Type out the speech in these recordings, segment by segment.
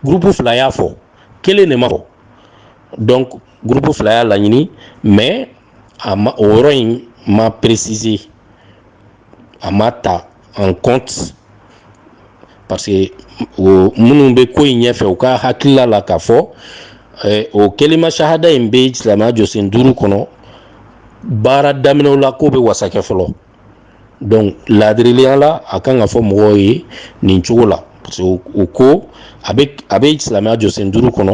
gurupu fila y'a fɔ kelen de m'a fɔ donc gurupu fila y'a laɲini mais a ma o yɔrɔ in ma préciser a ma ta en compte parce que o minnu bɛ ko in ɲɛfɛ u ka hakilila la k'a fɔ eh, o kelima sahada in bɛ silamɛya jɔsen duuru kɔnɔ baara daminɛw la k'o bɛ wasa kɛ fɔlɔ donc laadirileya la a kan ka fɔ mɔgɔw ye nin cogo la parce que o ko a bɛ a bɛ silamɛya jɔsen duuru kɔnɔ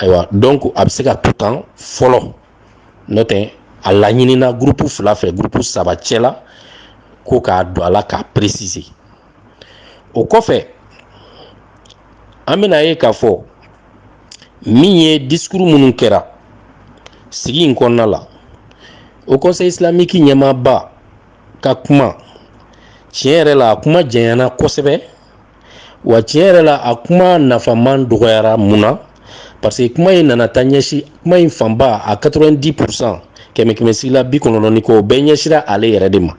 ayiwa donc a bɛ se ka to tan fɔlɔ n'o tɛ a laɲinina gurupu fila fɛ gurupu saba cɛla ko k'a don a la k'a préciser o kɔfɛ an bɛna ye k'a fɔ min ye disikuru minnu kɛra sigi in kɔnɔna la haut conseil islamique ɲɛmaaba ka kuma tiɲɛ yɛrɛ la a kuma janyana kosɛbɛ wa tiɲɛ yɛrɛ la a kuma nafaman dɔgɔyara mun na parce que kuma in nana taa ɲɛsin kuma in fanba a 90 pourcent kɛmɛ kɛmɛ sigila bi kɔnɔntɔn ni kɔ o bɛɛ ɲɛsira ale yɛrɛ de ma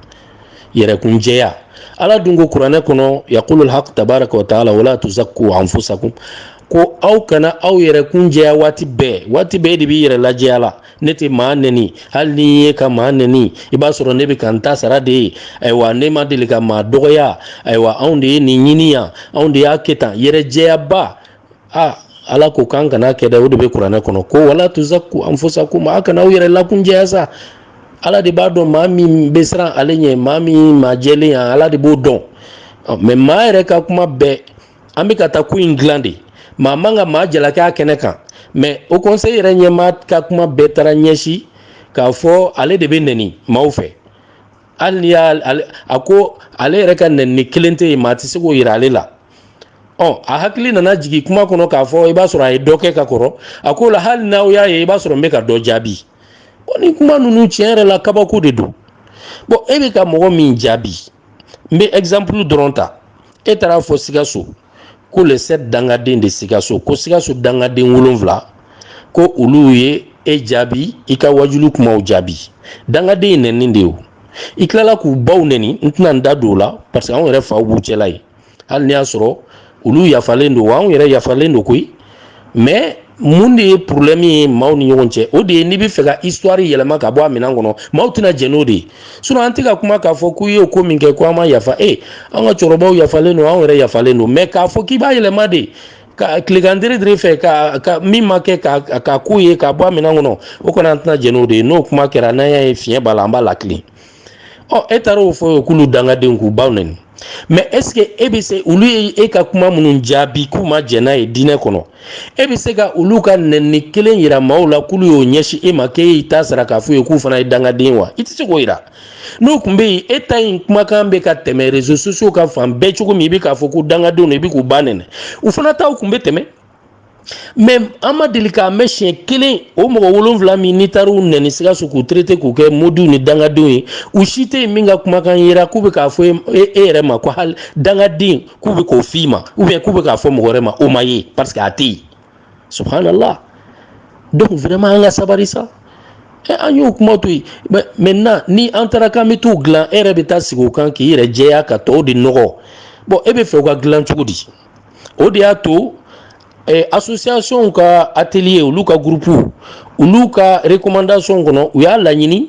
yɛrɛkunjɛya ala dun ko kuranɛ kɔnɔ yaqulul haq tabaraka wa taala wala tuzakku anfusakum ko aw kana aw yɛrɛ kun jɛya waati bɛɛ waati bɛɛ e de b'i yɛrɛ lajɛya la ne tɛ maa nɛni hali n'i ye ka maa nɛni i b'a sɔrɔ ne bɛ ka n ta sara de ye ayiwa ne ma deli ka maa dɔgɔya ayiwa anw de ye nin ɲini yan anw de y'a kɛ tan yɛrɛ jɛyaba aa ala ko k'an kan'a kɛ dɛ o de bɛ kuranɛ kɔnɔ ko wala tuzakku anfusakum a kana aw yɛrɛ lakunjɛya sa ala de b'a dɔn maa min bɛ siran ale ɲɛ maa min maa jɛlen yan ala de b'o dɔn mais maa yɛrɛ ka kuma bɛɛ an bɛ ka taa ko in dilan de maa man ka maa jalaki a kɛnɛ kan mais haut conseil yɛrɛ ɲɛmaa ka kuma bɛɛ taara ɲɛsin k'a fɔ ale de bɛ nɛni maaw fɛ hali n'i y'a a ko ale yɛrɛ ka nɛnini kelen tɛ yen maa tɛ se k'o yira ale la ɔ a hakili nana jigin kuma kɔnɔ k'a fɔ i b'a sɔrɔ a ye dɔ kɛ ka kɔrɔ a ko la hali n'aw y'a ye i b'a sɔrɔ n bɛ ka dɔ jaabi bɔn nin kuma ninnu tiɲɛ yɛrɛ la kabako de don bɔn e bɛ ka mɔgɔ min jaabi n bɛ exemple dɔrɔn ta e taara a fɔ sikaso ko les sept dangaden de sikaso ko sikaso dangaden wolonfila ko olu ye e jaabi i ka waajuli kumaw jaabi dangaden ye nɛni de ye o i tilala k'u baw nɛni n tɛna n da don o la parce que anw yɛrɛ faw b'u cɛla yen hali n'i y'a sɔrɔ olu yafalen don wa anw yɛrɛ yafalen don koyi mais mun de ye problème ye maaw ni ɲɔgɔn cɛ o de ye n'i bɛ fɛ ka histoire yɛlɛma k'a bɔ a minɛn kɔnɔ maaw tɛna jɛn n'o de ye sinon an tɛ ka kuma k'a fɔ k'u ye ko min kɛ ko a ma yafa e an ka cɛkɔrɔbaw yafalen don anw yɛrɛ yafalen don mais k'a fɔ k'i b'a yɛlɛma de ka tilekan dere fɛ ka ka min ma kɛ ka ka k'u ye k'a bɔ a minɛn kɔnɔ o kɔni an tɛna jɛn n'o de ye n'o kuma kɛra n'an y'a ye fiɲɛ b'a la an b'a lakile ɔ e taara o fɔ yen k'olu dangadenw k'u baw nɛni mɛ ɛseke e bɛ se olu ye e ka kuma minnu jaabi k'u ma jɛn n'a ye diinɛ kɔnɔ e bɛ se ka olu ka nɛni kelen yira maaw la k'olu y'o ɲɛsin e ma k'e y'i ta sara k'a f'u ye k'u fana ye dangaden wa i tɛ se k'o yira n'o tun bɛ yen e ta in kumakan bɛ ka tɛmɛ rezo sosiyo ka fan bɛɛ cogo min i bɛ k'a fɔ ko dangadenw don i bɛ k'u ba nɛni u fana taw tun bɛ tɛmɛ mɛ an ma deli k'a mɛn siɲɛ kelen o mɔgɔ wolonfila min n'i taara u nɛni sikaso k'u terete k'u kɛ modiw ni dangadenw ye u si tɛ yen min ka kumakan yera k'u bɛ k'a fɔ e, e, e yɛrɛ ma ko hali dangaden k'u bɛ k'o f'i ma ubiyɛn k'u bɛ k'a fɔ mɔgɔ wɛrɛ ma o ma ye parce que a tɛ yen subhanallah donc vraiment an ka sabari sa Eh, an y'o kuma to yen maintenant ni an taara k'an bɛ t'u dilan e yɛrɛ bɛ taa sigi o kan k'i yɛrɛ jɛya ka tɔw de nɔgɔ bɔn e b'a fɛ u ka dilan cogo di o de y'a to asosiyasɔnw ka ateliye olu ka gurupuw olu ka rekomandasɔn kɔnɔ u y'a laɲini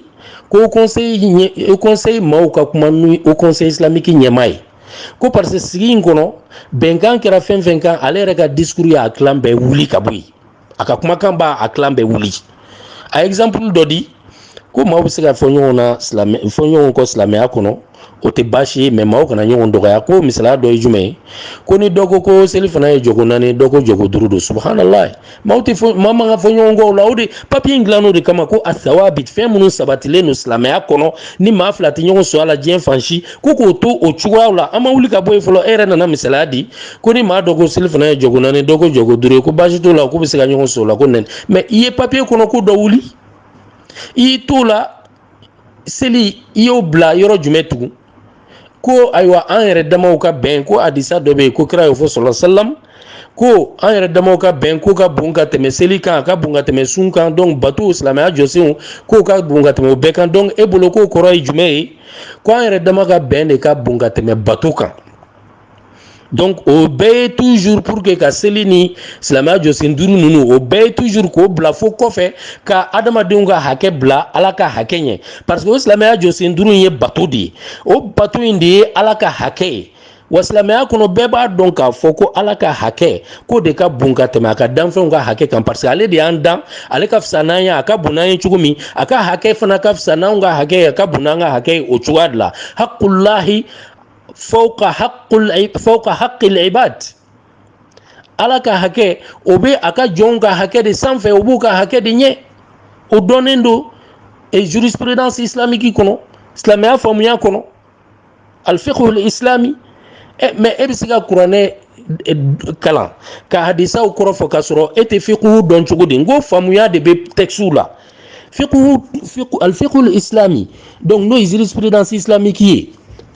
ko o kɔnseyi maaw ka kuma ni o kɔnseyi isilamiki ɲɛmaa ye ko parce que sigi in kɔnɔ bɛnkan kɛra fɛn fɛn kan ale yɛrɛ ka discours y'a kilan bɛɛ wuli ka bɔ yen a ka kumakan b'a kilan bɛɛ wuli a ye exemple dɔ di ko maaw bɛ se ka fɔ ɲɔgɔn na silamɛ fɔ ɲɔgɔn kɔ silamɛya kɔnɔ o tɛ baasi ye mɛ maaw kana ɲɔgɔn dɔgɔya ko misaliya dɔ ye jumɛn ye ko ni dɔ ko ko selifana ye jɔko naani dɔ ko jɔko duuru don subahanallahi maaw tɛ fɔ maa man ka fɔ ɲɔgɔn kɔ o la o de papiye in dilan o de kama ko assawabit fɛn minnu sabatilen don silamɛya kɔnɔ ni maa fila tɛ ɲɔgɔn sɔrɔ a la diɲɛ fan si ko k'o to o cogoyaw la an ma wuli ka bɔ yen fɔlɔ e yɛrɛ nana misaliya di ko ni maa dɔ ko selifana ye jɔko naani dɔ ko jɔko duuru ye ko baasi t'o la k'u bɛ se ka ɲɔgɔn so la ko nɛni mɛ i ye papiye kɔnɔko dɔ wuli i y'i t'o la seli i y'o bila yɔrɔ jumɛn tugun ko ayiwa an yɛrɛ damaw ka bɛn ko hadisa dɔ bɛ yen ko kira y'o fɔ sɔlɔ salam ko an yɛrɛ damaw ka bɛn k'o ka bon ka tɛmɛ seli kan a ka bon ka tɛmɛ sun kan donc batow silamɛya jɔsenw k'o ka bon ka tɛmɛ o bɛɛ kan donc e bolo k'o kɔrɔ ye jumɛn ye ko an yɛrɛ dama ka bɛn de ka bon ka tɛmɛ bato kan donc o bɛɛ ye toujours pour que ka seli ni silamɛya jɔsen duuru ninnu o bɛɛ ye toujours k'o bila fo kɔfɛ ka adamadenw ka hakɛ bila ala ka hakɛ ɲɛ parce que o silamɛya jɔsen duuru in ye bato de ye o bato in de ye ala ka hakɛ ye wa silamɛya kɔnɔ bɛɛ b'a dɔn k'a fɔ ko ala ka hakɛ k'o de ka bon ka tɛmɛ a ka danfɛnw ka hakɛ kan parce que ale de y'an dan ale ka fisa n'an ye a ka bon n'an ye cogo min a ka hakɛ fana ka fisa n'anw ka hakɛ ye a ka bon n'an ka hakɛ ye o cogoya de la haqqullahi fawqa haqqul fawqa haqqil ibad ala ka hakɛ o bɛ a ka jɔnw ka hakɛ de sanfɛ o b'u ka hakɛ de ɲɛ o dɔnnen don e jurisprudence islamique kɔnɔ silamɛya faamuya kɔnɔ alfiqhul islami ɛ mɛ e bɛ se ka kuranɛ kalan ka hadisaw kɔrɔ fɔ k'a sɔrɔ e tɛ fiqhu dɔn cogo di n ko faamuya de bɛ textew la fiqhu fiqhu al fiqhu islami donc n'o ye jurisprudence islamique ye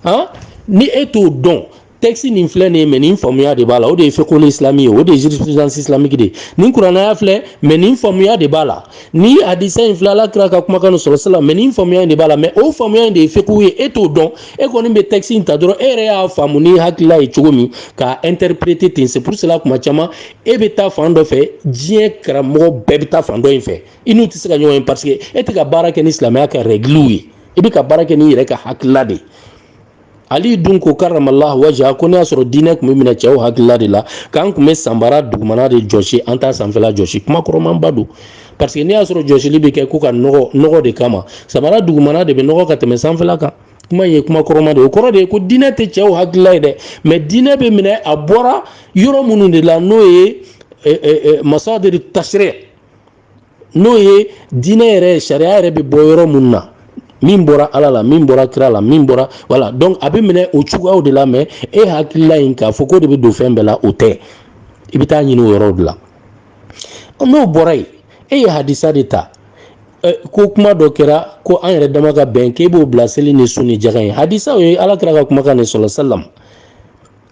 han ni e t'o dɔn texte nin filɛ nin ye mɛ nin faamuya de b'a la o de ye fiqhu islami ye o de ye jurisprudence islamique de ye nin kurana aya filɛ mɛ nin faamuya de b'a la nin hadisa in filɛ ala kira ka kumakan nin sala salam mɛ nin faamuya in de b'a la mɛ o faamuya in de ye fiqhu ye e t'o dɔn e kɔni bɛ texte in ta dɔrɔn e yɛrɛ y'a faamu n'i hakilila ye cogo min k'a interpréter ten c'est pour cela kuma caman e bɛ taa fan dɔ fɛ diɲɛ karamɔgɔ bɛɛ bɛ taa fan dɔ in fɛ i n'u tɛ se ka ɲɔgɔn ye paseke e tɛ ka baara kɛ ni silamɛya ka rɛgiliw ye i bɛ ka baara kɛ n'i yɛrɛ ka hakilila de ye ali dun ko karamallah wajha ko n'i y'a sɔrɔ diinɛ tun bɛ minɛ cɛw hakilila de la k'an tun bɛ sabara dugumana de jɔsi an t'a sanfɛla jɔsi kuma kɔrɔmaba don paseke n'i y'a sɔrɔ jɔsili bɛ kɛ ko ka nɔgɔ nɔgɔ de kama sabara dugumana de bɛ nɔgɔ ka tɛmɛ sanfɛla kan kuma ye kuma kɔrɔma de o kɔrɔ de ye ko diinɛ tɛ cɛw hakilila ye dɛ mɛ diinɛ bɛ minɛ a bɔra yɔrɔ minnu de la n'o ye masadir tashri n'o ye diinɛ yɛrɛ sariya yɛrɛ bɛ bɔ yɔrɔ minnu na min bɔra ala la min bɔra kira la min bɔra voilà donc a bɛ minɛ o cogoyaw de la mɛ e hakilila in k'a fɔ k'o de bɛ don fɛn bɛɛ la o tɛ i bɛ t'a ɲini o yɔrɔw de la n'o bɔra yen e ye hadisa de ta ko kuma dɔ kɛra ko an yɛrɛ dama ka bɛn k'e b'o bila seli ni sun ni jaga ɲɛ hadisa o ye ala kira ka kumakan de sala salam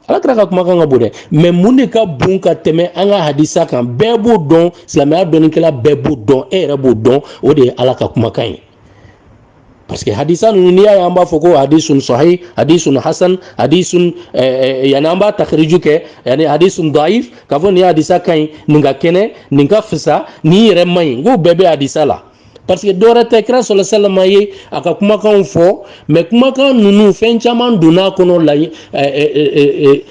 ala kira ka kumakan ka bon dɛ mɛ mun de ka bon ka tɛmɛ an ka hadisa kan bɛɛ b'o dɔn silamɛya dɔnnikɛla bɛɛ b'o dɔn e yɛrɛ b'o dɔn o de ye ala ka kumakan ye parce que hadisa ninnu n'i y'a ye an b'a fɔ ko hadisun sahih hadisun hasan hadisun eh, eh, yani an b'a takhriju kɛ yani hadisun daif k'a fɔ nin hadisa ka ɲi nin ka kɛnɛ nin ka fisa nin yɛrɛ man ɲi n k'o bɛɛ bɛ hadisa la parce que dɔwɛrɛ tɛ kira sala salama ye a ka kumakanw fɔ mɛ kumakan ninnu fɛn caman donna kɔnɔ la eh,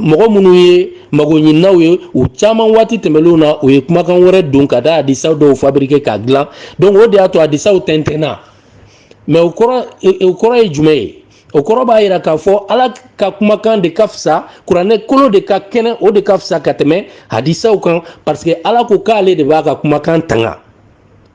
mɔgɔ minnu ye magoɲininaw ye u caman waati tɛmɛnlenw na u ye kumakan wɛrɛ don ka taa hadisa dɔw fabriquer k'a dilan donc o de y'a to hadisaw tɛntɛnna mɛ o kɔrɔ o kɔrɔ ye jumɛn ye o kɔrɔ b'a yira k'a fɔ ala ka kumakan de ka fisa kuranɛ kolo de ka kɛnɛ o de ka fisa ka tɛmɛ hadisaw kan parce que ala ko k'ale de b'a ka kumakan tanga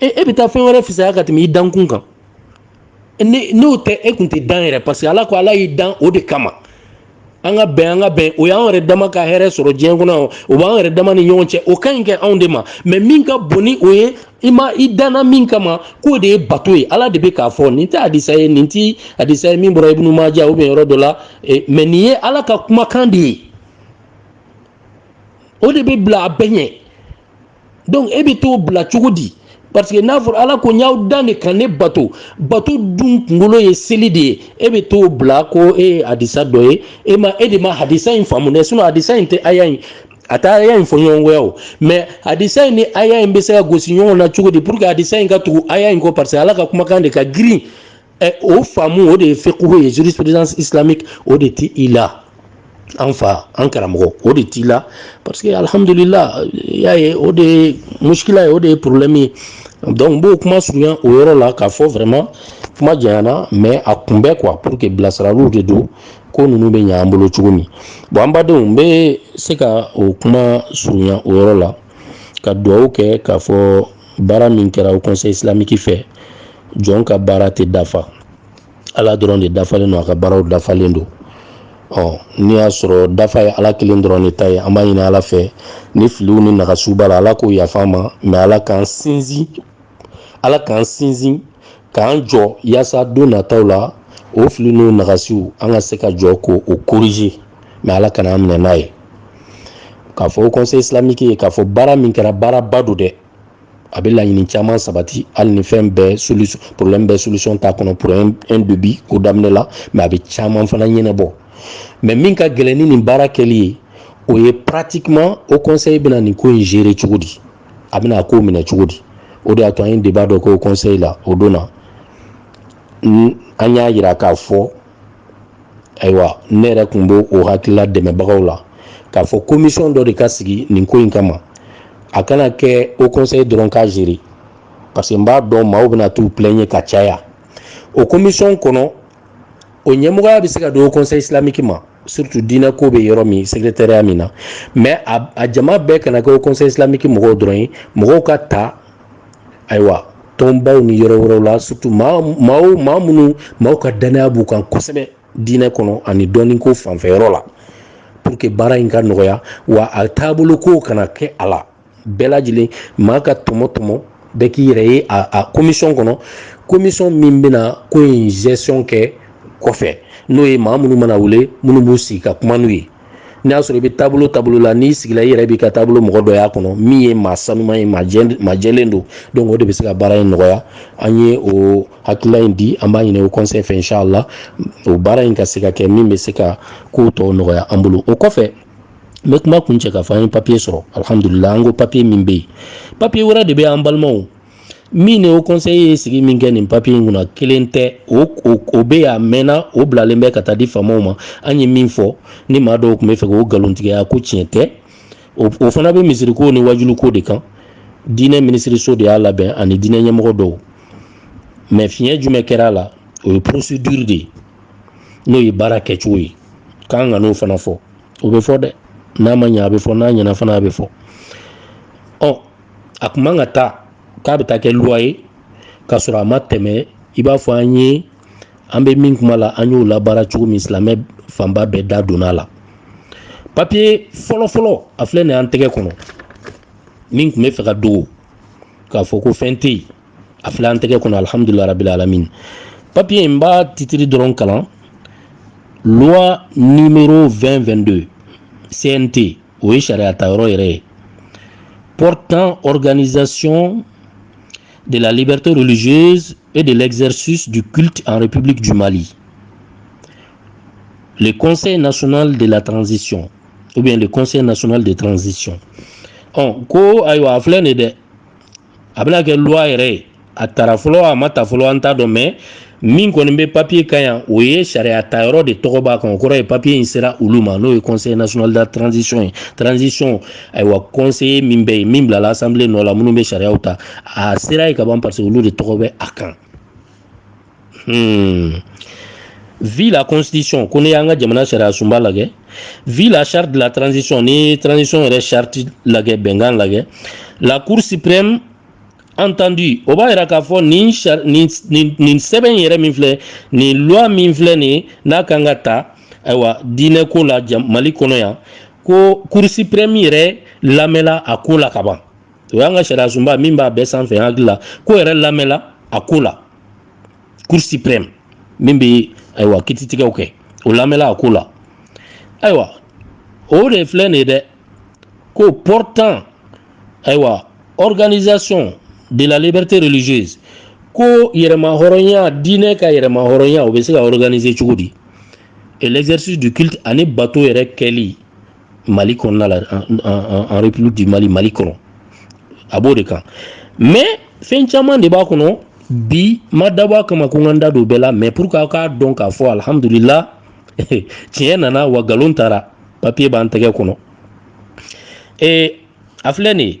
e e bɛ taa fɛn wɛrɛ fisaya ka tɛmɛ i dankun kan ni n'o tɛ e kun tɛ dan yɛrɛ parce que ala ko ala y'i dan o de kama an ka bɛn an ka bɛn o y'an yɛrɛ dama ka hɛrɛ sɔrɔ diɲɛ kɔnɔ o b'an yɛrɛ dama ni ɲɔgɔn cɛ o ka ɲi kɛ anw de ma mɛ min ka bon ni o ye i ma i danna min kama k'o de ye bato ye ala de bɛ k'a fɔ nin tɛ hadisa ye nin tɛ hadisa ye min bɔra ibunu maja u bɛ yɔrɔ dɔ la e, mɛ nin ye ala ka kumakan de ye o de bɛ bila a bɛɛ ɲɛ donc e bɛ t'o bila cogo di parce que n'a fɔra ala ko n y'aw dan de ka ne bato bato dun kunkolo ye seli de ye e bɛ t'o bila ko e ye hadisa dɔ ye e ma e de ma hadisa in faamu dɛ sinon hadisa in tɛ aya in a tɛ aya in fɔɲɔgɔnkɔya o mais hadisa in ni aya in bɛ se ka gosi ɲɔgɔn na cogo di pour que hadisa in ka tugu aya in kɔ parce que ala ka kumakan de ka girin ɛ o faamu o de ye fikuhu ye jurisprudence islamique o de t'i la an fa an karamɔgɔ o de t'i la parce que alhamdulila y'a ye o de ye muskila ye o de ye problème ye donc n b'o kuma surunya o yɔrɔ la k'a fɔ vraiment kuma janyana mais a kun bɛ quoi pour que bilasiraliw de don ko ninnu bɛ ɲɛ an bolo cogo min bon an badenw n bɛ se ka o kuma surunya o yɔrɔ la ka dugawu kɛ k'a fɔ baara min kɛra haut conseil islamique fɛ jɔn ka baara tɛ dafa ala dɔrɔn de dafalen don a ka baaraw dafalen don ɔ n'i y'a sɔrɔ dafa ye ala kelen dɔrɔn de ta ye an b'a ɲini ala fɛ ni filiw ni nagasiw b'a la ala k'o yafa an ma mais ala k'an sinsin ala k'an sinsin k'an jɔ yaasa don nataw la o fili n'u nagasiw an ka se ka jɔ k'o corriger mais ala kan'an minɛ n'a ye k'a fɔ haut conseil islamique ye k'a fɔ baara min kɛra baaraba don dɛ a bɛ laɲini caman sabati hali ni fɛn bɛɛ solution problème bɛɛ solution t'a kɔnɔ pour un début ko daminɛ la mais a bɛ caman fana ɲɛnabɔ mais min ka gɛlɛn ni nin baara kɛli ye o ye pratiquement haut conseil bɛna nin ko in gérer cogo di a bɛna a ko minɛ cogo di o de y'a to an ye débat dɔ kɛ haut conseil la o don na an y'a yira k'a fɔ ayiwa ne yɛrɛ tun bɛ o hakilila dɛmɛbagaw la k'a fɔ komisɔn dɔ de ka sigi nin ko in kama a kana kɛ haut conseil dɔrɔn k'a gérer parce que n b'a dɔn maaw bɛna t'u plaigner ka caya o komisɔn kɔnɔ o ɲɛmɔgɔya bɛ se ka di haut conseil islamique ma surtout diinɛ ko bɛ yɔrɔ min secrétariat min na mais a jama bɛɛ kana kɛ haut conseil islamique mɔgɔw dɔrɔn ye mɔgɔw ka ta ayiwa tɔnbaw ni yɔrɔ wɛrɛw la surtout maa maa minnu maaw ka dannaya b'u kan kosɛbɛ diinɛ kɔnɔ ani dɔnni ko fanfɛ yɔrɔ la pour que baara in ka nɔgɔya wa a taabolo ko kana kɛ a la bɛɛ lajɛlen maa ka tɔmɔ tɔmɔ bɛɛ k'i yɛrɛ ye a komisɔn kɔnɔ komisɔn min bɛna ko in gestion kɛ kɔfɛ n'o ye maa minnu mana wele minnu b'u sigi ka kuma n'u ye n'i y'a sɔrɔ i bɛ taabolo taabolo la n'i sigila i yɛrɛ b'i ka taabolo mɔgɔ dɔ y'a kɔnɔ min ye maa saniman ye maa jɛlen don donc o de bɛ se ka baara in nɔgɔya an ye o hakilila in di an b'a ɲini haut conseil fɛ inshallah o baara in ka se ka kɛ min bɛ se ka ko tɔw nɔgɔya an bolo o kɔfɛ n bɛ kuma kuncɛ k'a fɔ an ye papiye sɔrɔ alihamudulila an ko papiye min bɛ yen papiye wɛrɛ de bɛ an balimaw min o kɔnse ye sigi min kɛ nin papiye in kunna kelen tɛ o o bɛ a mɛnna o bilalen bɛ ka taa di faamaw ma an ye min fɔ ni maa dɔw tun bɛ fɛ o nkalontigiya ko tiɲɛ tɛ o fana bɛ misiriko ni waajuliko de kan diinɛ minisiriso de y'a labɛn ani diinɛ ɲɛmɔgɔ dɔw mɛ fiɲɛ jumɛn kɛra a la o ye procédure de ye n'o ye baara kɛcogo ye k'an ka n'o fana fɔ o bɛ fɔ dɛ n'a ma ɲɛ a bɛ fɔ n'a ɲɛna fana a bɛ fɔ ɔ a kun man ka taa k'a bɛ taa kɛ loi ye k'a sɔrɔ a ma tɛmɛ i b'a fɔ an ye an bɛ min kuma la an y'o labaara cogo min silamɛ fanba bɛɛ da donna a la papiye fɔlɔfɔlɔ a filɛ nin an tɛgɛ kɔnɔ min tun bɛ fɛ k'a dogo k'a fɔ ko fɛn tɛ yen a filɛ an tɛgɛ kɔnɔ alihamudulila rabil alamin papiye in n b'a titiri dɔrɔn kalan loi numéro 2022 CNT o ye sariya ta yɔrɔ yɛrɛ ye portant organisation de la liberté religieuse et de l'exercice du culte en République du Mali. Le Conseil national de la transition, ou bien le Conseil national de transition. Ɔ ko ayiwa a filɛ nin ye dɛ a bɛna kɛ loi yɛrɛ ye a tara fɔlɔ a ma ta fɔlɔ an t'a dɔn mɛ min kɔni bɛ papiye kan yan o ye sariya ta yɔrɔ de tɔgɔ b'a kan o kɔrɔ ye papiye in sera olu ma n'o ye conseil national de transition ye transition ayiwa conseil min bɛ yen min bilala assemblée nɔ la minnu bɛ sariyaw ta a sera yen ka ban parce que olu de tɔgɔ bɛ a kan Hmm. vu la constitution ko n'i y'an ka jamana sariya sunba lagɛ vu la charte de la transition ni transition yɛrɛ charte lagɛ bɛnkan lagɛ la cour suprême entendue o b'a yira k'a fɔ nin nin nin nin sɛbɛn yɛrɛ min filɛ nin loi min filɛ nin n'a kan ka ta ayiwa diinɛ ko la mali kɔnɔ yan ko cour suprême yɛrɛ lamɛnla a ko la ka ban o y'an ka sariya sunba min b'a bɛɛ sanfɛ hakili la k'o yɛrɛ lamɛnla a ko la cour suprême min bɛ ayiwa kititigɛw kɛ o lamɛnla a ko la ayiwa o de filɛ nin ye dɛ ko portant ayiwa organisation de la liberté religieuse ko yɛrɛmahɔrɔnya diinɛ ka yɛrɛmahɔrɔnya o bɛ se ka organiser cogo di et l'exercice du culte ani bato yɛrɛ kɛli mali kɔnɔna la en république du mali mali kɔnɔ a b'o de kan mais fɛn caman de b'a kɔnɔ bi ma dabɔ a kama ko n ka n da don bɛɛ la mais pour que aw k'a dɔn k'a fɔ alhamdulila tiɲɛ nana wa nkalon taara papiye b'an tɛgɛ kɔnɔ ee a filɛ nin ye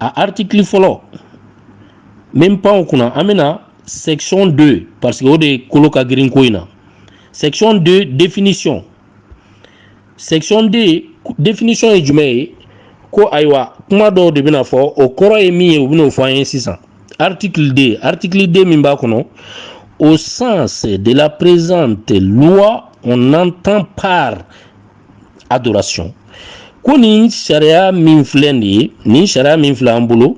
a article fɔlɔ min pan o kunna an bɛ na section 2 parce que o de kolo ka girin ko in na section 2 définition section 2 définition ye jumɛn ye ko ayiwa kuma dɔw de bɛna fɔ o kɔrɔ ye min ye u bɛn'o fɔ an ye sisan article 2 article 2 min b'a kɔnɔ au sens de la présente loi on entend par adoration ko nin sariya min filɛ nin ye nin sariya min filɛ an bolo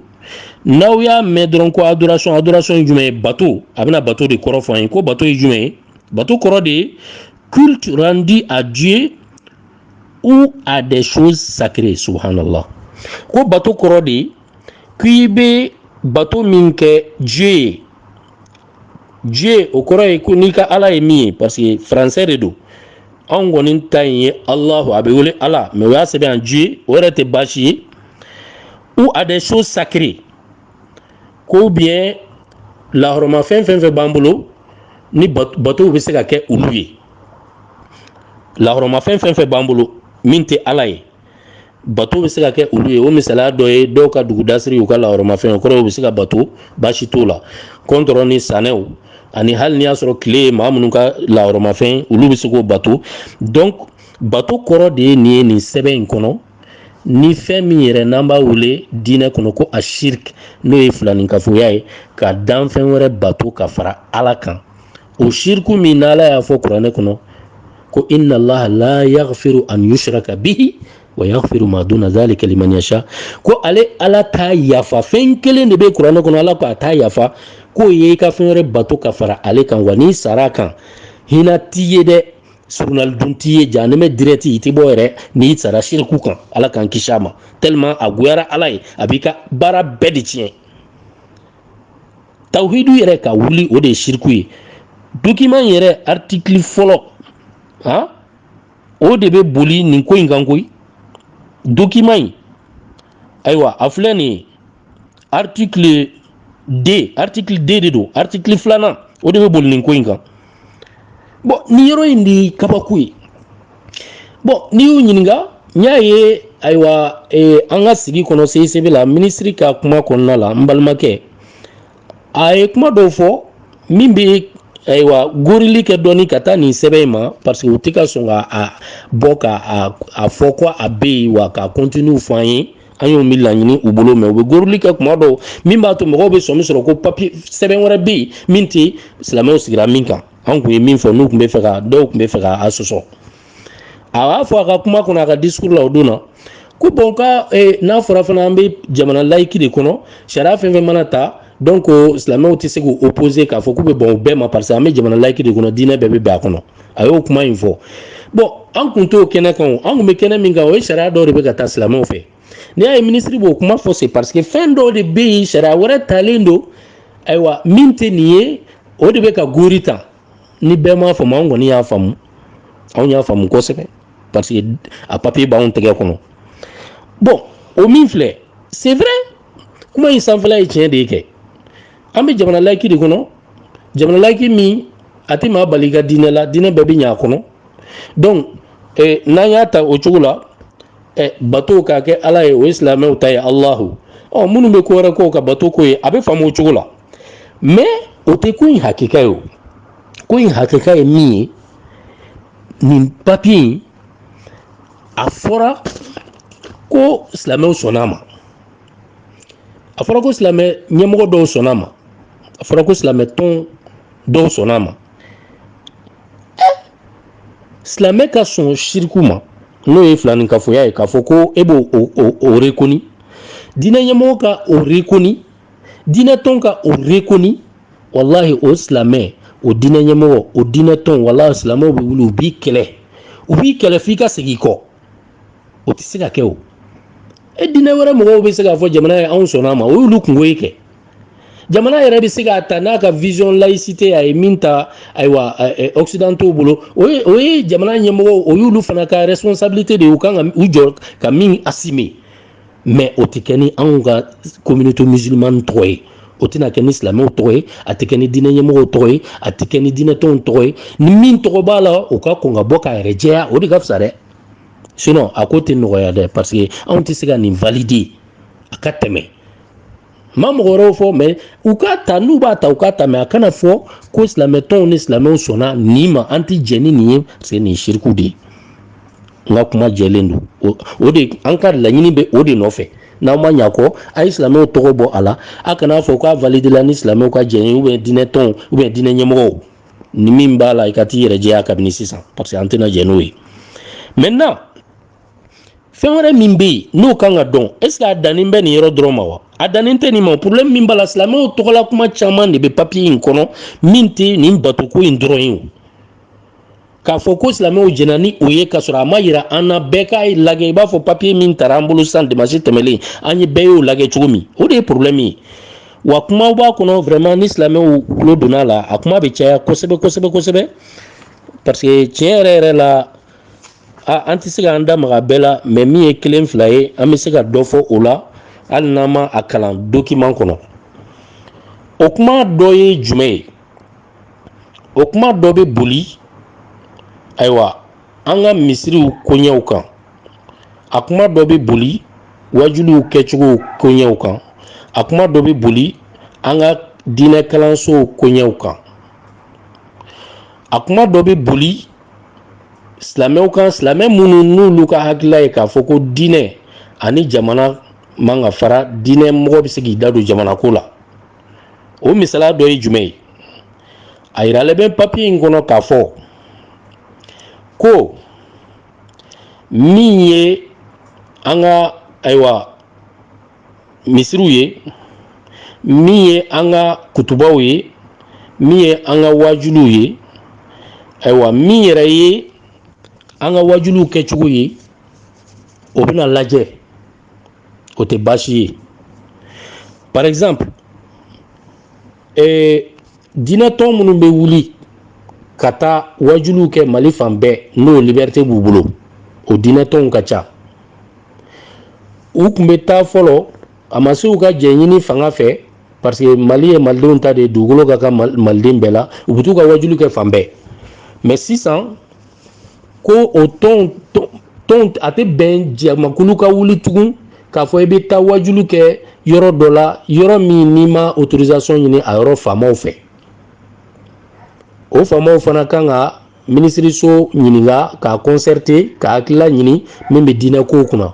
n'aw y'a mɛn dɔrɔn ko adoration adoration ye jumɛn ye bato a bɛna bato de kɔrɔ fɔ an ye ko bato ye jumɛn ye bato kɔrɔ de ye culte rendu à Dieu ou à des choses sacrées subhanallah ko bato kɔrɔ de ye k'i bɛ bato min kɛ Dieu ye Dieu o kɔrɔ ye ko n'i ka ala ye min ye parce que faransɛ de don anw kɔni ta in ye alahu a bɛ wele ala mais o y'a sɛbɛn yan Dieu o yɛrɛ tɛ baasi ye ou à des choses sacrées ko ou bien lahɔrɔmafɛn fɛn fɛn b'an bolo ni batow bɛ se ka kɛ olu ye lahɔrɔmafɛn fɛn fɛn b'an bolo min tɛ ala ye bato bɛ se ka kɛ olu ye o misaliya dɔ ye dɔw ka dugudasiri u ka lahɔrɔmafɛn kɔrɔw bɛ se ka bato baasi t'o la kɔntɔrɔn ni sanɛw ani hali n'i y'a sɔrɔ tile ye maa minnu ka lahɔrɔmafɛn olu bɛ se k'o bato donc bato kɔrɔ de ye nin ye nin sɛbɛn in kɔnɔ ni fɛn min yɛrɛ n'an b'a wele diinɛ kɔnɔ ko a shirk n'o ye filanin kafoya ye ka danfɛn wɛrɛ bato ka fara ala kan o shirku min na ala y'a fɔ kuranɛ kɔnɔ ko inna allaha la yaghfiru an yushraka bihi wa yaghfiru ma duna dhalika liman yasha ko ale ala t'a yafa fɛn kelen de bɛ kuranɛ kɔnɔ ala ko a t'a yafa k'o ye i ka fɛn wɛrɛ bato ka fara ale kan wa n'i sara a kan hinɛ t'i ye dɛ surunali dun t'i ye jahanama direct i tɛ bɔ yɛrɛ n'i sara siriku kan ala k'an kisi a ma tellement a goyara ala ye a b'i ka baara bɛɛ de tiɲɛ tawhidu yɛrɛ ka wuli o de ye siriku ye dokiman yɛrɛ artikili fɔlɔ han o de bɛ boli nin ko in kan koyi dokiman in ayiwa a filɛ nin ye artikili 2 artikili 2 de don artikili filanan o de bɛ boli nin ko in kan bɔn nin yɔrɔ in de kabako ye bɔn n'i y'u ɲininka n y'a ye ayiwa eh, an ka sigi kɔnɔ cicb la minisiri ka kuma kɔnɔna la n balimakɛ a ye kuma dɔw fɔ min bɛ ayiwa gorili kɛ dɔɔni ka taa nin sɛbɛn in ma parce que u tɛ ka sɔn ka a bɔ ka a fɔ ko a bɛ yen wa k'a contenu fɔ an ye an y'o min laɲini u bolo mais u bɛ goroli kɛ kuma dɔw min b'a to mɔgɔw bɛ sɔmi sɔrɔ ko papi sɛbɛn wɛrɛ bɛ yen min tɛ silamɛw sigira min kan an tun ye min fɔ n'u tun b'a fɛ ka dɔw tun b'a fɛ ka a sɔsɔ a b'a fɔ a ka kuma kɔnɔ a ka disukuru la o don na ko bɔn ka eh, n'a fɔra fana an bɛ jamana layiki de kɔnɔ sariya fɛn o fɛn mana ta donc silamɛw tɛ se k'u opposer k'a fɔ k'u bɛ bɛn u bɛɛ ma parce que an bɛ jamana layiki de kɔnɔ diinɛ bɛɛ bɛ bɛn a kɔnɔ a y'o kuma in fɔ bɔn an kun t'o kɛnɛ kan o an kun bɛ kɛnɛ min kan o ye sariya dɔw de bɛ ka ta silamɛw fɛ n'i y'a ye minisiri b'o kuma fɔ c'est parce que fɛn dɔw de bɛ yen sariya wɛrɛ talen don ayiwa min tɛ nin ye o de bɛ ka gori ta ni bɛɛ m'a faamu an kɔni y'a faamu anw y'a faamu kosɛbɛ parce que a papiye b'anw tɛgɛ kɔnɔ bɔn o min filɛ c'est vrai kuma in sanfɛla ye tiɲɛ de ye kɛ an bɛ jamana layiki de kɔnɔ jamana layiki min a tɛ maa bali ka diinɛ la diinɛ bɛɛ bɛ ɲɛ a kɔnɔ donc eh, n'an y'a ta o cogo la eh, bato ka kɛ ala ye o ye silamɛw ta ye alahu ɔ minnu bɛ ko wɛrɛ k'u ka batoko ye a bɛ faamu o cogo la mais o tɛ ko in hakika ye o ko in hakika ye min ye nin papiye in a fɔra ko silamɛw sɔnna a ma a fɔra ko silamɛ ɲɛmɔgɔ dɔw sɔnna a ma a fɔra ko silamɛ tɔn dɔw sɔnna a ma silamɛ ka sɔn siriku ma n'o ye filanin kafoya ye k'a fɔ ko i b'o rekoni diinɛ ɲɛmɔgɔ ka o rekoni diinɛ tɔn ka o rekoni walahi o silamɛ o diinɛ ɲɛmɔgɔ o diinɛ tɔn walahi silamɛw bɛ wuli u b'i kɛlɛ u b'i kɛlɛ f'i ka segin i kɔ o tɛ se ka kɛ o e diinɛ wɛrɛ mɔgɔw bɛ se k'a fɔ jamana ye anw sɔnna a ma o y'olu kungo ye kɛ jamana yɛrɛ bɛ se k'a ta n'a ka vision laïcité a ye min ta ayiwa occidentaux bolo o ye o ye jamana ɲɛmɔgɔw o y'olu fana ka responsabilité de ye u kan ka u jɔ ka min assumer mais o tɛ kɛ ni anw ka communauté musulmane tɔgɔ ye o tɛna kɛ ni silamɛw tɔgɔ ye a tɛ kɛ ni diinɛ ɲɛmɔgɔw tɔgɔ ye a tɛ kɛ ni diinɛtɔnw tɔgɔ ye ni min tɔgɔ b'a la o ka kɔn ka bɔ k'a yɛrɛ jɛya o de ka fisa dɛ sinon a ko tɛ nɔgɔya dɛ parce que anw tɛ se ka nin valider a ka tɛmɛ n ma mɔgɔ wɛrɛw fɔ mais u k'a ta n'u b'a ta u k'a ta mais a kana fɔ ko silamɛtɔnw ni silamɛw sɔnna nin ma an tɛ jɛn ni nin ye parce que nin ye siriku de ye n ka kuma jɛlen don o o de an ka laɲini bɛ o de nɔfɛ n'aw ma ɲ'a kɔ a ye silamɛw tɔgɔ bɔ a la a kana fɔ k'a validela ni silamɛw ka jɛn ye ou bien diinɛ tɔnw ou bien diinɛ ɲɛmɔgɔw ni min b'a la i ka t'i yɛrɛ jɛya kabini sisan parce que an tɛna jɛn n'o ye maintenant fɛn wɛrɛ min bɛ yen n'o kan ka dɔn est ce que a dannen bɛ nin yɔrɔ dɔrɔn ma wa a dannen tɛ nin ma problème min b'a la silamɛw tɔgɔla kuma caman de bɛ papiye in kɔnɔ min tɛ nin batoko in dɔrɔn ye o k'a fɔ ko silamɛw jɛna ni o ye k'a sɔrɔ a ma yira an na bɛɛ k'a lajɛ i b'a fɔ papiye min tara an bolo sisan dimansi tɛmɛlen an ye bɛɛ y'o lajɛ cogo min o de ye problɛmu ye wa kumaw b'a kɔnɔ vraiment ni silamɛw tulo donna a la a kuma bɛ caya kosɛbɛ kosɛbɛ kosɛbɛ parce que tiɲɛ yɛrɛ yɛrɛ la an tɛ se k'an da maga bɛɛ la mais min ye kelen fila ye an bɛ se ka dɔ fɔ o la hali n'an ma a kalan dokiman kɔnɔ o kuma dɔ ye jumɛn ye o kuma dɔ bɛ boli ayiwa an ka misiriw koɲɛw kan a kuma dɔ bɛ boli wajuliw kɛcogo koɲɛw kan a kuma dɔ bɛ boli an ka diinɛ kalansow koɲɛw kan a kuma dɔ bɛ boli silamɛw kan silamɛ minnu n'olu ka hakilila ye k'a fɔ ko diinɛ ani jamana man ka fara diinɛ mɔgɔ bɛ se k'i da don jamanako la o misaliya dɔ ye jumɛn ye a yiralen bɛ papiye in kɔnɔ k'a fɔ ko min ye an ka ayiwa misiriw ye min ye an ka kutubaw ye min ye an ka wajuliw ye ayiwa min yɛrɛ ye an ka wajuliw kɛcogo ye o bɛna lajɛ o tɛ baasi ye par exemple ee diinɛtɔn minnu bɛ wuli ka taa wajuliw kɛ mali fan bɛɛ n'o liberté b'u bolo o diinɛtɔnw ka ca u tun bɛ taa fɔlɔ a ma se u ka jɛnɲini fanga fɛ parce que mali ye malidenw ta de ye dugukolo ka kan maliden bɛɛ la u bɛ t'u ka wajuli kɛ fan bɛɛ mais sisan ko o tɔn tɔnw a tɛ bɛn jamakulu ka wuli tugun k'a fɔ i bɛ taa wajulu kɛ yɔrɔ dɔ la yɔrɔ min n'i ma autorisation ɲini a yɔrɔ faamaw fɛ o faamaw fana kan ka minisiriso ɲininka k'a concerter k'a hakilila ɲini min bɛ diinɛ kow kunna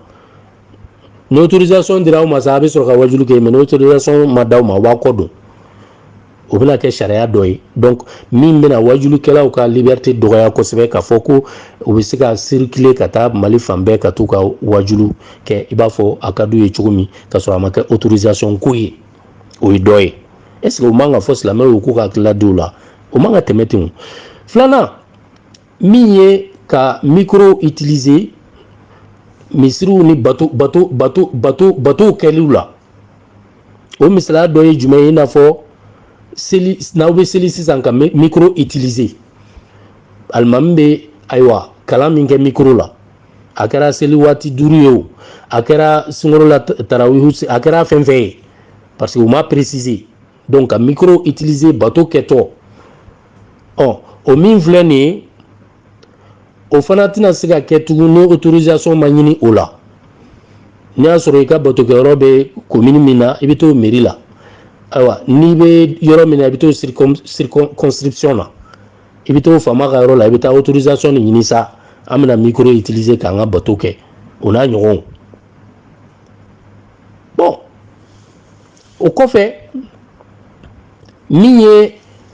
ni autorisation dira aw ma sa a bɛ sɔrɔ ka wajulu kɛ mais ni autorisation ma d'aw ma aw b'a kɔdon o bɛna kɛ sariya dɔ ye donc min bɛna wajulikɛlaw ka liberté dɔgɔya kosɛbɛ k'a fɔ ko u bɛ se ka circuler ka taa Mali fan bɛɛ ka t'u ka wajulu kɛ i b'a fɔ a ka d'u ye cogo min ka sɔrɔ a ma kɛ autorisation ko ye o ye dɔ ye est ce que o man ka fɔ silamɛw ye u k'u ka hakilila di o la o man ka tɛmɛ ten o filanan min ye ka mikoro utiliser misiriw ni bato bato bato bato batow kɛliw la o misaliya dɔ ye jumɛn ye i n'a fɔ seli n'aw bɛ seli sisan ka mikoro utiliser alimami bɛ ayiwa kalan min kɛ mikoro la a kɛra seli waati duuru ye o a kɛra sunkalo la tarawihu a kɛra fɛn fɛn ye parce que u ma préciser donc ka micro utiliser bato kɛtɔ ɔ o min filɛ nin ye o fana tɛna se ka kɛ tugun ni autorisation ma ɲini o la n'i y'a sɔrɔ i ka batokɛyɔrɔ bɛ komini min na i bɛ t'o meri la ayiwa n'i bɛ yɔrɔ min na i bɛ t'o circonscription na i bɛ t'o faama ka yɔrɔ la i bɛ taa autorisation de ɲini sa an bɛna micro utiliser k'an ka bato kɛ o n'a ɲɔgɔnw o kɔfɛ min ye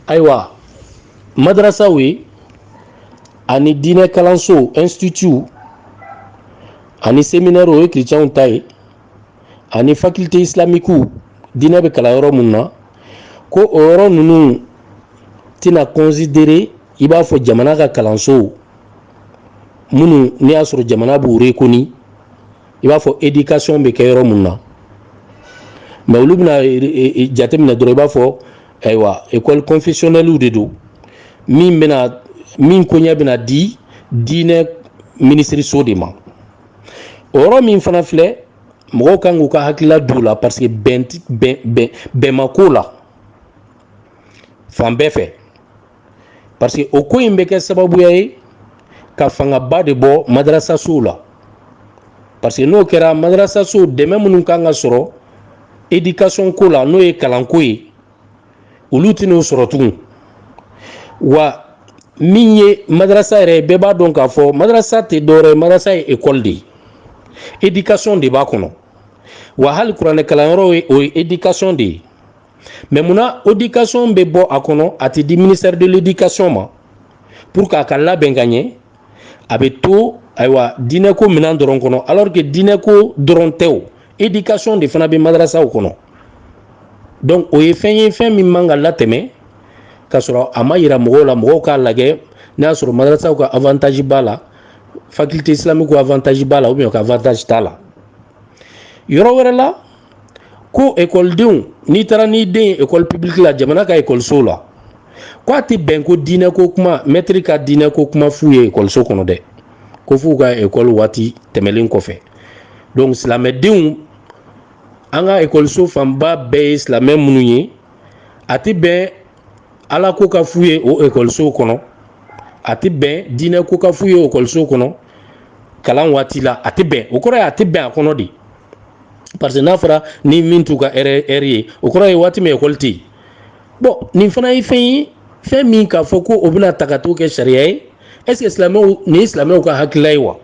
ayiwa madarasaw ye ani diinɛ kalanso instituw ani seminɛriw o ye kiricɛnw ta ye ani faculté islamique diinɛ bɛ kalan yɔrɔ minnu na ko o yɔrɔ ninnu tɛna considérer i b'a fɔ jamana ka kalansow minnu n'i y'a sɔrɔ jamana b'u rekoni i b'a fɔ éducation bɛ kɛ yɔrɔ minnu na mais olu bɛna jateminɛ dɔrɔn i b'a fɔ ayiwa école confessionnelle de don min bɛna min koɲɛ bɛna di diinɛ minisiriso de ma o yɔrɔ min fana filɛ mɔgɔw kan k'u ka hakilila don o la parce que bɛn bɛn bɛn bɛn ma k'o la fan bɛɛ fɛ parce que o ko in bɛ kɛ sababuya ye ka fangaba de bɔ madarasasow la parce que n'o kɛra madarasasow dɛmɛ minnu kan ka sɔrɔ éducation ko la n'o ye kalanko ye olu tɛn'o sɔrɔ tugun wa min ye madarasa yɛrɛ ye bɛɛ b'a dɔn k'a fɔ madarasa tɛ dɔwɛrɛ ye madarasa ye ekɔli de ye éducation de b'a kɔnɔ wa hali kuranɛkalanyɔrɔ ye o ye éducation de ye mais munna éducation bɛ bɔ a kɔnɔ a tɛ di ministère de l'éducation ma pour que a ka labɛn ka ɲɛ a bɛ to ayiwa diinɛko minɛn dɔrɔn kɔnɔ alors que diinɛko dɔrɔn tɛ o éducation de fana bɛ madarasaw kɔnɔ donc o ye fɛn ye fɛn min man ka latɛmɛ ka sɔrɔ a ma yira mɔgɔw la mɔgɔw k'a lajɛ n'a y'a sɔrɔ madarasaw ka avantage b'a la faculté islamique avantage b'a la ou bien ka avantage t'a la yɔrɔ wɛrɛ la ko ekɔlidenw n'i taara n'i den ye ekɔli publique la jamana ka ekɔlisow la ko a tɛ bɛn ko diinɛ ko kuma mɛtiri ka diinɛ ko kuma f'u ye ekɔliso kɔnɔ dɛ ko f'u ka ekɔli waati tɛmɛlen kɔfɛ donc silamɛdenw an ka ekɔliso fanba bɛɛ ye silamɛ minnu ye a tɛ bɛn ala ko ka f'u ye o ekɔlisow kɔnɔ a tɛ bɛn diinɛ ko ka f'u ye ekɔlisow kɔnɔ kalan waati la a tɛ bɛn o kɔrɔ ye a tɛ bɛn a kɔnɔ de parce que n'a fɔra ni min t'u ka heure ye o kɔrɔ ye waati min ekɔli tɛ yen bon nin fana ye fɛn ye fɛn min k'a fɔ ko o bɛna ta ka t'o kɛ sariya ye est-ce que silamɛw nin ye silamɛw ka hakilila ye wa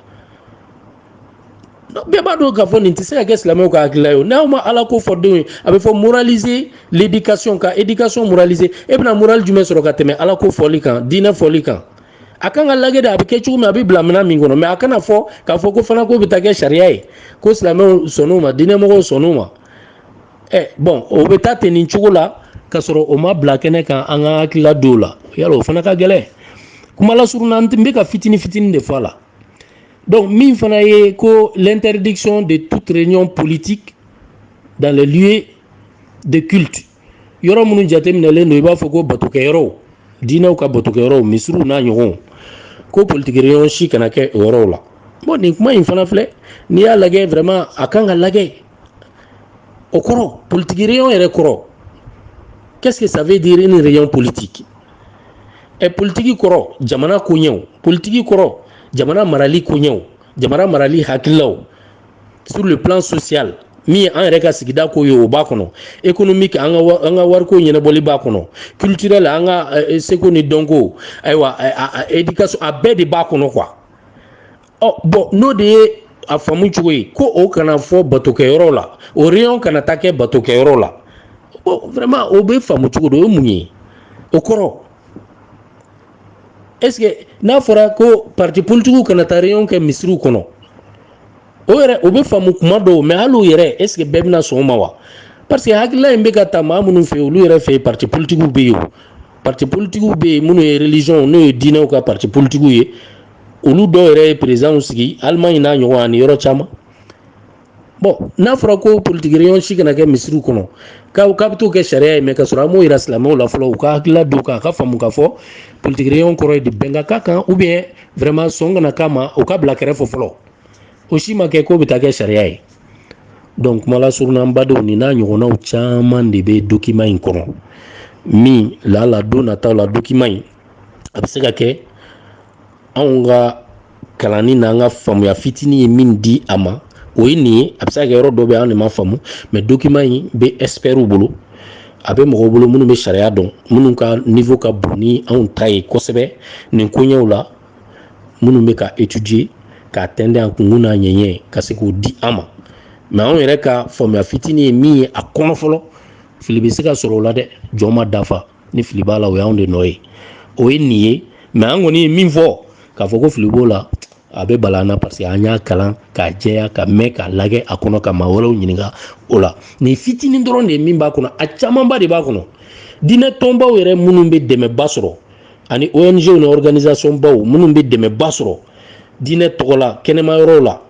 bɛɛ b'a dɔn k'a fɔ nin tɛ se ka kɛ silamɛw ka hakilila ye o n'aw ma ala ko fɔ denw ye a bɛ fɔ moraliser l'éducation ka éducation moraliser e bɛna morali jumɛn sɔrɔ ka tɛmɛ ala ko fɔli kan diinɛ fɔli kan a kan ka lagɛ de a bɛ kɛ cogo min a bɛ bila minɛn min kɔnɔ mɛ a kana fɔ k'a fɔ ko fana ko bɛ taa kɛ sariya ye ko silamɛw sɔnn'o ma diinɛmɔgɔw sɔnn'o ma ɛ bɔn o bɛ taa ten nin cogo la k'a sɔrɔ o ma bila kɛnɛ kan an ka hakilila dɔw la yala o fana ka gɛlɛn kuma lasurunya n bɛ ka fitini fitini de fɔ a la donc min fana ye ko l'interdiction de toute réunion politique dans les lieux de culte yɔrɔ minnu jateminɛlen don i b'a fɔ ko batokɛyɔrɔw diinɛw ka batokɛyɔrɔw misiriw n'a ɲɔgɔnw ko politiki réunion si kana kɛ o yɔrɔw la bon nin kuma in fana filɛ n'i y'a lagɛ vraiment a kan ka lagɛ o kɔrɔ politiki réunion yɛrɛ kɔrɔ qu'est-ce que ça veut dire une réunion politique ɛ politiki kɔrɔ jamana koɲɛw politiki kɔrɔ jamana marali koɲɛw jamana marali hakililaw sur le plan social min ye an yɛrɛ ka sigida ko ye o b'a kɔnɔ économique an ka an ka wariko ɲɛnabɔli b'a kɔnɔ culturel an ka seko ni dɔnko ayiwa éducation a bɛɛ de b'a kɔnɔ quoi ɔ bɔn n'o de ye a faamu cogo ye ko o kana fɔ batokɛyɔrɔ la o réunion kana taa kɛ batokɛyɔrɔ la vraiment o bɛ faamu cogo di o ye mun ye o kɔrɔ est-ce n'a fɔra ko pati politigiw kana taa réunion kɛ misiriw kɔnɔ o yɛrɛ o bɛ faamu tuma dɔw mɛ hali yɛrɛ est-ce bɛɛ bɛna sɔn o ma wa parce que hakilila in bɛ ka taa maa minnu fɛ olu yɛrɛ fɛ pati politigiw bɛ yen o pati politigiw bɛ yen minnu ye religion n'o ye diinɛw ka pati politigiw ye olu dɔw yɛrɛ ye présidentw sigi alimaɲi n'a ɲɔgɔn ani yɔrɔ caman bɔn n'a fɔra ko politiki réunion si kana kɛ misiriw kɔnɔ k'a k'a bɛ taa kɛ sariya ye mɛ k'a sɔrɔ an m'o yira silamɛw la fɔlɔ u ka hakilila dɔn k'a k'a faamu k'a fɔ politiki réunion kɔrɔ ye di bɛn ka k'a kan u bɛ vraiment sɔn kana k'a ma o ka bila kɛrɛfɛ fɔlɔ o si ma kɛ k'o bɛ taa kɛ sariya ye donc kuma lasurunya badenw ni n'a ɲɔgɔnnaw caman de bɛ dokiman in kɔnɔ min lala don nataw la dokiman in a bɛ se ka kɛ anw ka kalanni n'an ka faamuya fitinin ye min di an ma o ye nin ye a bɛ se ka kɛ yɔrɔ dɔ bɛ an de ma faamu mɛ dokiman in bɛ expertw bolo a bɛ mɔgɔw bolo minnu bɛ sariya dɔn minnu ka niveau ka bon ni anw ta ye kosɛbɛ nin koɲɛw la minnu bɛ k'a étudier k'a tɛnde a kunkun n'a ɲɛɲɛ ka se k'o di an ma mɛ anw yɛrɛ ka faamuya fitinin ye min ye a kɔnɔ fɔlɔ fili bɛ se ka sɔrɔ o la dɛ jɔn ma dafa ni fili b'a la o y'anw de nɔ ye o ye nin ye mais an kɔni ye min fɔ k'a fɔ ko fili b'o la a bɛ bala an na parce que an y'a kalan k'a jɛya ka mɛn k'a lajɛ a kɔnɔ ka maa wɛrɛw ɲininka o la nin fitinin dɔrɔn de ye min b'a kɔnɔ a camanba de b'a kɔnɔ diinɛ tɔnbaw yɛrɛ minnu bɛ dɛmɛba sɔrɔ ani ong ni organisation baw minnu bɛ dɛmɛba sɔrɔ diinɛ tɔgɔ la kɛnɛma yɔrɔw la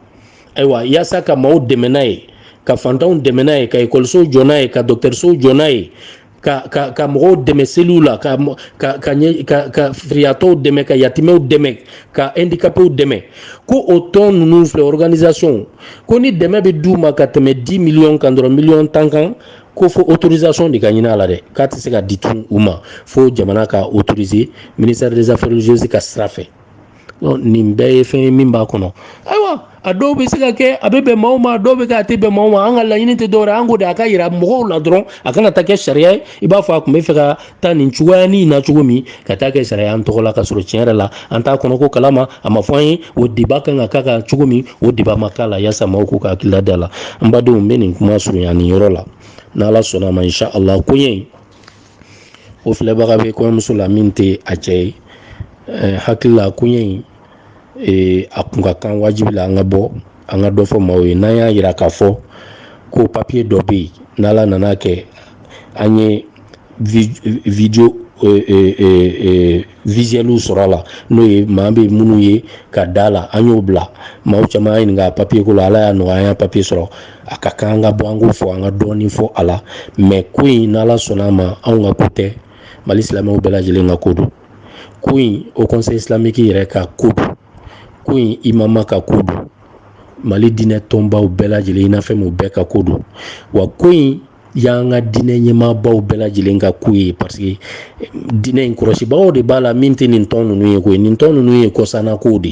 ayiwa yaasa ka maaw dɛmɛ n'a ye ka fantanw dɛmɛ n'a ye ka ekɔlisow jɔ n'a ye ka dɔgɔtɔrɔsow jɔ n'a ye ka ka ka mɔgɔw dɛmɛ seliw la ka ka ka ɲɛ ka ka firiyatɔw dɛmɛ ka yatimɛw dɛmɛ ka handicapéw dɛmɛ ko o tɔn ninnu filɛ organisation ko ni dɛmɛ bɛ d'u ma ka tɛmɛ 10 millions kan dɔrɔn miliyɔn tan kan ko fo autorisation de ka ɲini a la dɛ k'a tɛ se ka di tun u ma fo jamana k'a autoriser ministère des affaires religieuses ka sira fɛ nin bɛɛ ye fɛn ye min b'a kɔnɔ ayiwa a dɔw bɛ se ka kɛ a bɛ bɛn maaw ma dɔw bɛ kɛ a tɛ bɛn maaw ma an ka laɲini tɛ dɔwɛrɛ an ko de a ka yira mɔgɔw la dɔrɔn a kana taa kɛ sariya ye i b'a fɔ a tun bɛ fɛ ka taa nin cogoya ni na cogo min ka taa kɛ sariya an tɔgɔ la ka sɔrɔ tiɲɛ yɛrɛ la an t'a kɔnɔko kalama a ma fɔ an ye o débat kan ka k'a kan cogo min o débat ma k'a la yaasa maaw k'u ka hakilila da la n badenw n bɛ nin kuma surunya nin yɔrɔ la n'ala sɔnna a ma insha Allah koɲɛ o filɛbaga bɛ kɔɲɔmuso la min tɛ a cɛ ye eh, hakilila koɲɛ in eh, a kun ka kan wajibi la an ka bɔ an ka dɔ fɔ maaw ye n'an y'a yira k'a fɔ ko papiye dɔ bɛ yen n'ala nana kɛ an ye video eh, visuelw sɔrɔ a la n'o ye maa bɛ minnu ye ka da la an y'o bila maaw caman y'a ɲininka papiye ko la ala y'a nɔgɔya an y'a papiye sɔrɔ a ka kan an ka bɔ an k'o fɔ an ka dɔɔnin fɔ a la mais ko in n'ala sɔnna a ma anw ka ko tɛ mali silamɛw bɛɛ lajɛlen ka ko don ko in haut conseil islamique yɛrɛ ka ko don ko in imama ka ko don mali diinɛ tɔnbaw bɛɛ lajɛlen i n'a fɛn bɛɛ ka ko don wa ko in y'an ka diinɛ ɲɛmaabaw bɛɛ lajɛlen ka ko ye parce que diinɛ in kɔlɔsibagaw de b'a la min tɛ nin tɔn ninnu ye koyi nin tɔn ninnu ye kɔsannakow de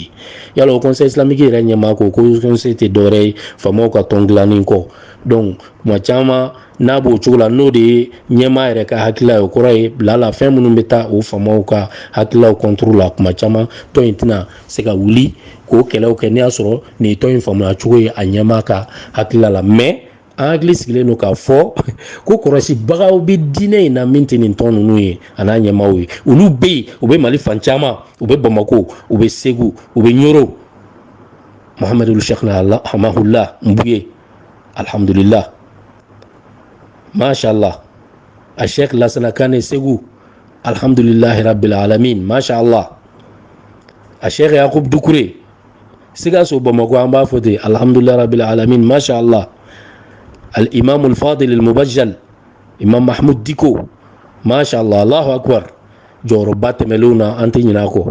ye hali haut conseil islamique yɛrɛ ɲɛmaa ko haut conseil tɛ dɔwɛrɛ ye faamaw ka tɔn dilannen kɔ donc tuma caman n'a b'o cogo la n'o de ye ɲɛmaa yɛrɛ ka hakilila ye o kɔrɔ ye bila la fɛn minnu bɛ taa o faamaw ka hakililaw kɔnturu la tuma caman tɔn in tɛna se ka wuli k'o kɛlɛw kɛ n'i y'a sɔrɔ nin tɔn in faamuya cogo ye a ɲɛmaa ka hakilila la mais an hakili sigilen don k'a fɔ ko kɔlɔsibagaw bɛ diinɛ in na min tɛ nin tɔn ninnu ye a n'a ɲɛmaaw ye olu bɛ yen u bɛ mali fan caman u bɛ bamako u bɛ segu u bɛ ɲɔrɔ mahamadu shekina hamahula nbuye alihamudulila mashala a shek lasana kane segu alihamdulilahi rabbil alamin mashala a shek yakub dukure sikaso bamakɔ an b'a fɔ ten alhamdulilayi rabbil alamin masha allah al imam al fadil al mubajjal imam mahmud diko masha allah allahu akbar jɔyɔrɔba tɛmɛlenw na an tɛ ɲinɛ a kɔ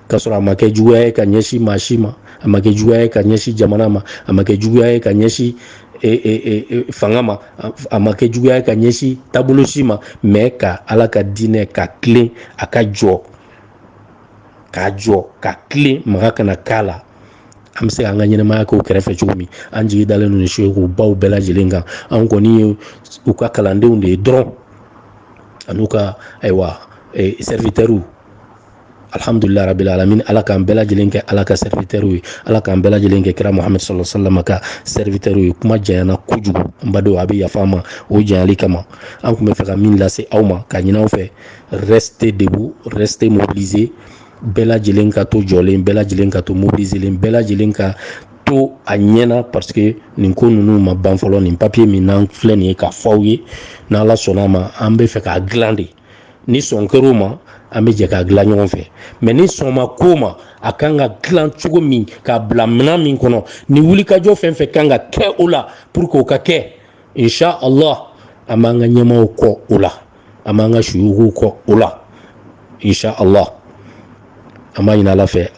k'a sɔrɔ a ma kɛ juguya ye ka ɲɛsin maa si ma a ma kɛ juguya ye ka ɲɛsin jamana ma a ma kɛ juguya ye ka ɲɛsin e, e, e, fanga ma a ma kɛ juguya ye ka ɲɛsin taabolo si ma mɛ ka ala ka diinɛ ka tilen a ka jɔ ka jɔ ka tilen maga kana k'a la an bɛ se k'an ka ɲɛnɛmaya k'o kɛrɛfɛ cogo min an jigi dalen don suyugubaw bɛɛ lajɛlen kan an kɔni ye u ka kalandenw de ye dɔrɔn an'u ka ayiwa e, serviteurw alhamdulila rabil alamin ala k'an bɛɛ lajɛlen kɛ ala ka serviteurw ye ala k'an bɛɛ lajɛlen kɛ kira muhamadu sallallahu alayhi wa sallam ka serviteurw ye kuma janyana kojugu n badenw aw bɛ yafa n ma o janyali kama an tun bɛ fɛ ka min lase aw ma ka ɲin'aw fɛ restez debout restez mobilisés bɛɛ lajɛlen ka to jɔlen bɛɛ lajɛlen ka to mobiliselen bɛɛ lajɛlen ka to a ɲɛna parce que nin ko ninnu ma ban fɔlɔ nin papier min n'an filɛ nin ye k'a fɔ aw ye n'ala sɔnna a ma an bɛ fɛ k'a dilan de ni sɔn kɛr'o ma an bɛ jɛ k'a dilan ɲɔgɔn fɛ mɛ ni sɔn ma k'o ma a kan ka dilan cogo min k'a bila minɛn min kɔnɔ ni wulikajɔ fɛn fɛn kan ka kɛ o la pour que o ka kɛ insha allah an b'an ka ɲɛmaaw kɔ o la an b'an ka suyuguw kɔ o la insha allah an b'a ɲini ala fɛ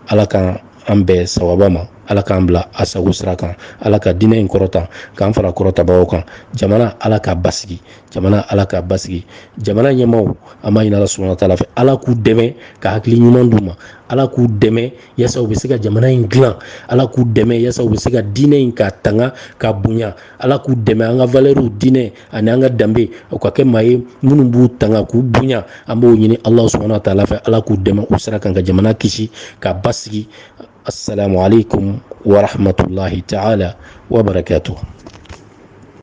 ala k'an bɛn sawaba ma ala k'an bila a sago sira kan ala ka diinɛ in kɔrɔta k'an fara kɔrɔtabagaw kan jamana ala k'a basigi jamana ala k'a basigi jamana ɲɛmaaw an b'a ɲini ala subahana taala fɛ ala k'u dɛmɛ ka hakili ɲuman d'u ma ala k'u dɛmɛ yasa u bɛ se ka jamana in dilan ala k'u dɛmɛ yasa u bɛ se ka diinɛ in k'a tanga k'a bonya ala k'u dɛmɛ an ka valeurw diinɛ ani an ka danbe u ka kɛ maa ye minnu b'u tanga k'u bonya an b'o ɲini ala subahana wa taala fɛ ala k'u dɛmɛ u sira kan ka jamana kisi k'a basigi asalamu aleykum warahmatulahi taala wabarakatu